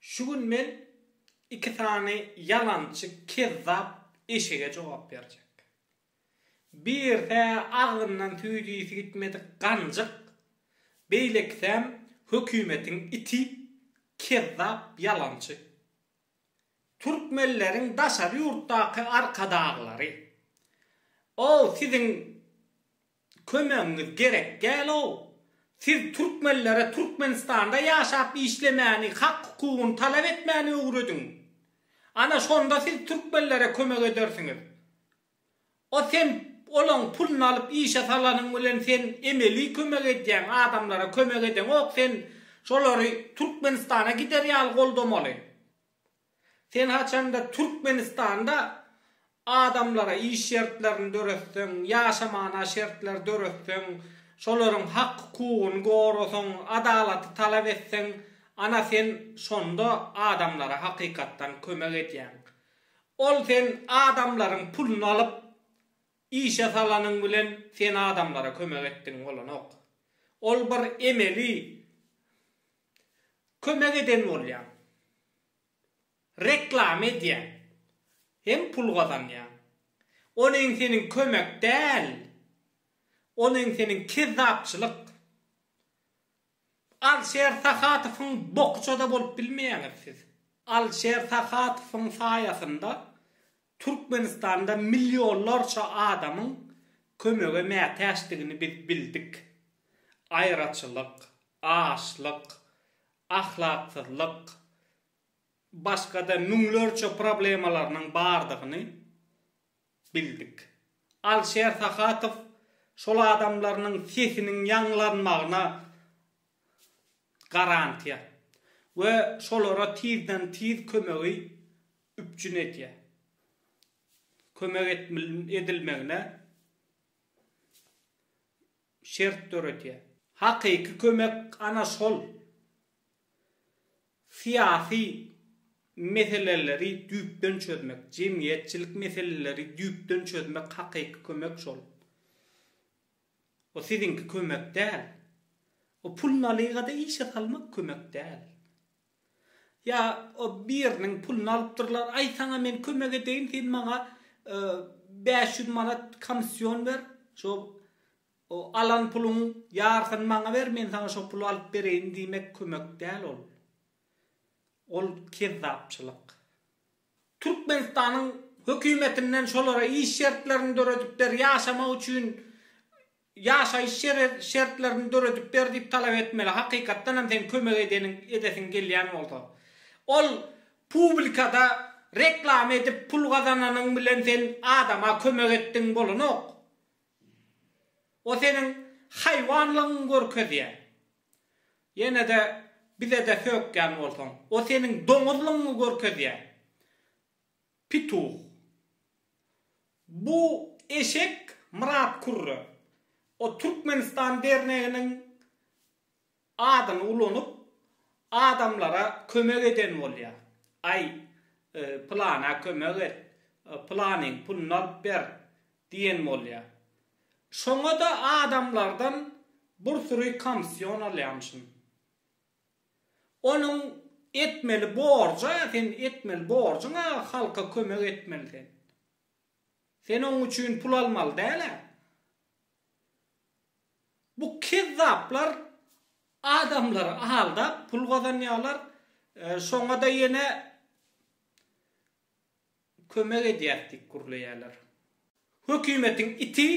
Şu gün men iki sany ýalançy kezzap eşege jogap berjek. Birisi agzyndan süýt ysy gitmedik ganjyk, beýlekisem hökümetiň iti, kezzap ýalançy. Türkmenleriň daşary ýurtdaky arkadaglary, o siziň Kömegiňiz gerek däl-ow. Siz türkmenlere Türkmenistanda ýaşap işlemäni, hak-hukugyny talap etmäni öwrediň. Ana şonda siz türkmenlere kömek edersiňiz. O sen olaň puluny alyp işe salanyň bilen sen emeli kömek edýäň, adamlara kömek edeňok sen şolary Türkmenistana gider ýaly goldamaly. Sen haçanda Türkmenistanda adamlara iş şertlerini döretseň, ýaşamana şertler döretseň, şolaryň hak-hukugyny gorasaň, adalaty talap etseň, ana sen şonda adamlara hakykatdan kömek edýäň. Ol sen adamlaryň puluny alyp, işe salanyň bilen sen adamlara kömek etdigiň bolanok. Ol bir emeli. kömek eden bolýaň, reklama edýäň hem pul gazanýaň. Onuň seniň kömek däl, onuň seniň kezzapçylyk. Alşer Sahatowyň bokuça-da bolup bilmeýäňiz siz. Alşer Sahatowyň saýasynda Türkmenistanda millionlarça adamyň kömege mätäçdigini biz bildik. Aýraçylyk, açlyk, ahlaksyzlyk, başga-da müňlerçe problemalarynyň bardygyny bildik. Alişer Sahatow şol adamlarynyň sesiniň ýaňlanmagyna garantiýa we şolara tizden-tiz kömegi üpjün edýär. Kömek edilmegine şert döredýär. Hakyky kömek ana şol syýasy meseleleri düýpden çözmek, jemgyýetçilik meseleleri düýpden çözmek hakyky kömek şol. O siziňki kömek däl. O pul nalygada işe salmak kömek däl. Ýa o biriniň puluny alypdyrlar, aý saňa men kömek edeýin, sen maňa bäş ýüz manat komissiýon ber, şo alan puluň ýarysyny maňa ber, men saňa şo puly alyp bereýin diýmek kömek däl ol. Ol kezzapçylyk. Türkmenistanyň hökümetinden şolara iş şertlerini döredip ber, ýaşamak üçin Ýaşaýyş şertlerini döredip ber diýip talap etmeli, hakykatdanam seň kömek edeniň edesiň gelýän bolsa. Ol publikada reklama edip pul gazananyň bilen sen adama kömek etdiň bolanok. O seniň haýwanlygyňy görkezýä. Ýenede bizede sökýän bolsaň. O seniň doňuzlygyňy görkezýä. Pituh. Bu eşek Myrat Kürre. O Türkmenistan derneginiň adyny ulanyp, adamlara kömek eden bolýa. Aý, pylana kömek et, pylanyň puluny alyp ber diýen bolýa. Şoňa-da adamlardan bir süri komsýon alýamyşyn. Onuň etmeli borja sen etmeli borjuňa halka kömek etmeli sen. Sen oň üçin pul almaly däl-ä. Bu kezzaplar adamlary aldap pul gazanýarlar şoňada ýene kömek edýäs diýip gürleýärler. Hökümetiň iti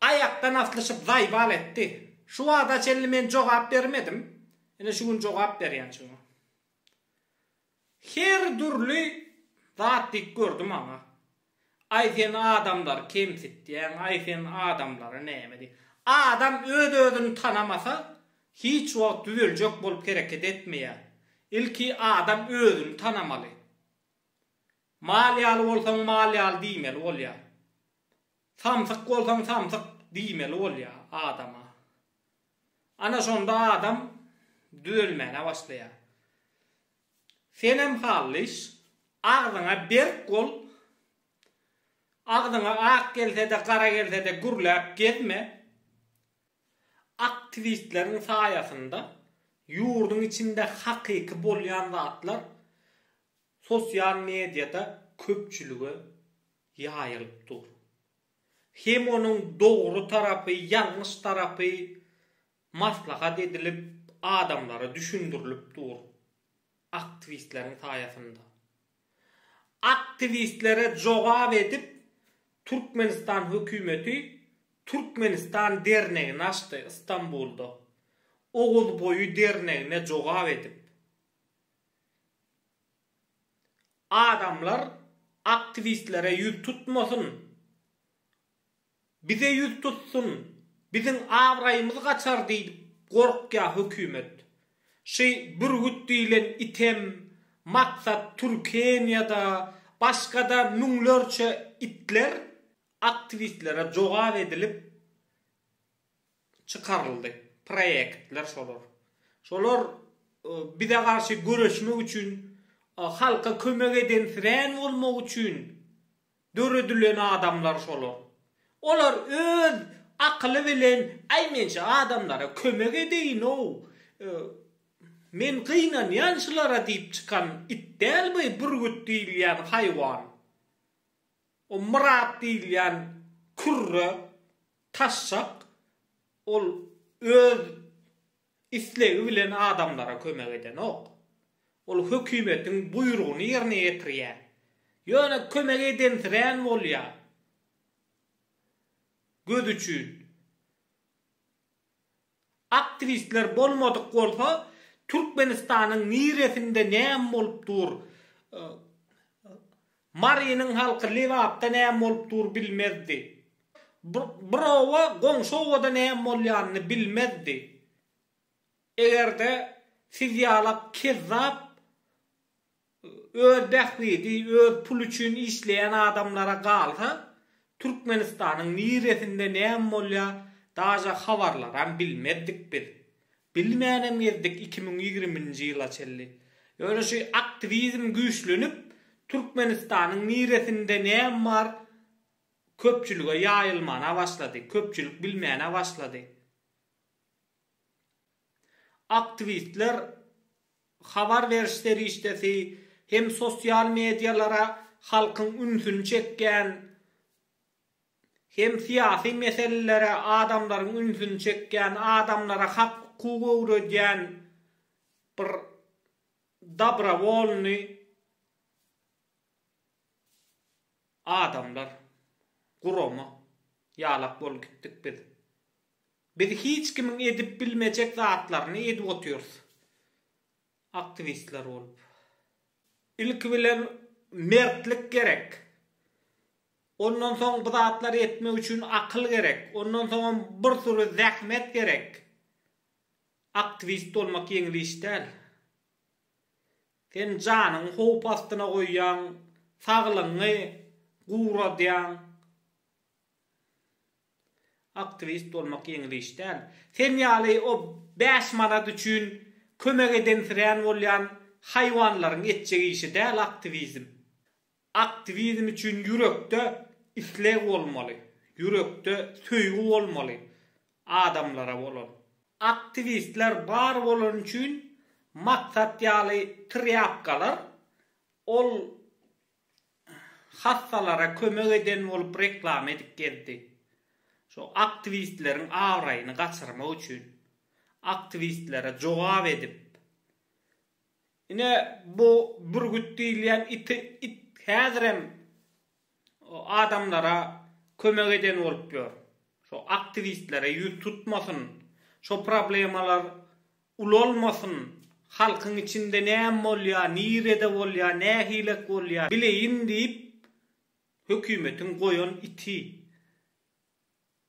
Aýakdan aslyşyp zaýbal etdi. Şu wagta çenli men jogap bermedim. Ine şu gün jogap berýän şuňa. Her dürli zat diýip gördi maňa. Aý sen adamlary kemsitýäň, aý sen adamlara näme diýip. Adam öz özüni tanamasa hiç wagt düzeljek bolup hereket etmeýär. Ilki adam özüni tanamaly. Mal ýaly bolsaň mal ýaly diýmeli bolýar. Samsyk bolsaň samsyk diýmeli bolýar adama. Ana şonda adam düzelmäne başlaýar. Senem halliş, agzyňa berk bol, agzyňa ak gelsede gara gelsede gürläp gezme. Aktiwistleriň saýasynda ýurduň içinde hakyky bolýan zatlar sosial mediýada köpçülige ýaýylyp dur. Hem onuň dogry tarapy, ýalňyş tarapy maslahat edilip, adamlara düşündirilip dur. Aktiwistleriň saýasynda. Aktiwistlere jogap edip, Türkmenistan hökümeti Türkmenistan dernegini açdy Istanbulda. Oguzboýy dernegine jogap edip. Adamlar aktiwistlere ýüz tutmasyn. Bize ýüz tutsun, biziň abraýymyz gaçar diýip gorkýa hökümet. Şy bürgüt diýlen item, maksat Türkeniýada başgada müňlerçe itler aktiwistlere jogap edilip, çykaryldy. Proýektler şolar. Şolar bize garşy göreşmek üçin, halka kömek edensirän bolmak üçin döredilen adamlar şolar. Olar öz akyly bilen, Aý, men şu adamlara kömek edeýin-ow, men gynanýan şulara diýip çykan it däl bu bürgüt diýilýän haýwan. O Myrat diýilýän kürre taşşak, ol öz islegi bilen adamlara kömek edenok. Ol hökümetiň buýrugyny ýerine ýetirýär. Ýöne kömek edensirän bolýar. Göz üçin. Aktiwistler bolmadyk bolsa Türkmenistanyň niresinde näme bolup dur Marynyň halky Lebapda näme bolup dur bilmezdi. Bir oba goňşy obada näme bolýanyny bilmezdi. Egerde siz ýalak kezzap Öz bähbidi öz puly üçin işleýän adamlara galsa, Türkmenistanyň niresinde näme bolýa daže habarlaram bilmezdik biz. Bilmänem gezdik iki müň ýigriminji ýyla çenli. Ýöne şu aktiwizm güýçlenip, Türkmenistanyň niresinde näme bar köpçülige ýaýylmana başlady, köpçülik bilmäne başlady. Aktiwistler habar beriş serişdesi hem sosial medialara halkyň ünsüni çekýän hem syýasy meselelere adamlaryň ünsüni çekýän, adamlara hak-hukuk öwredýän bir dobrowolnyý adamlar, gurama ýalak bolup gitdik biz. Biz hiç kimiň edip bilmejek zatlaryny edip otyrys aktiwistler bolup. Ilki bilen mertlik gerek. Ondan soň bu zatlary etmek üçin akyl gerek. Ondan soňam bir süri zähmet gerek. Aktiwist bolmak ýeňil iş däl. Sen janyňy howp astyna goýýaň, saglygyňy guradýaň. Aktiwist bolmak ýeňil iş däl. Sen ýaly o bäş manat üçin kömek edensirän bolýan haýwanlaryň etjek işi däl aktiwizm. Aktiwizm üçin ýürekde isleg bolmaly, ýürekde söýgi bolmaly adamlara bolan. Aktiwistler bar bolany üçin maksat ýaly trýapkalar ol hassalara kömek eden bolup reklama edip gezdi. Şo aktiwistleriň abraýyny gaçyrmak üçin aktiwistlere jogap edip ine bu bürgüt diýilýän iti it häzirem adamlara kömek eden bolup ýör. Şo aktiwistlere ýüz tutmasyn. Şo problemalar Ulalmasyn, halkyň içinde näme bolýar, nirede bolýar, nähilek bolýar, bileýin diýip, hökümetiň goýan iti.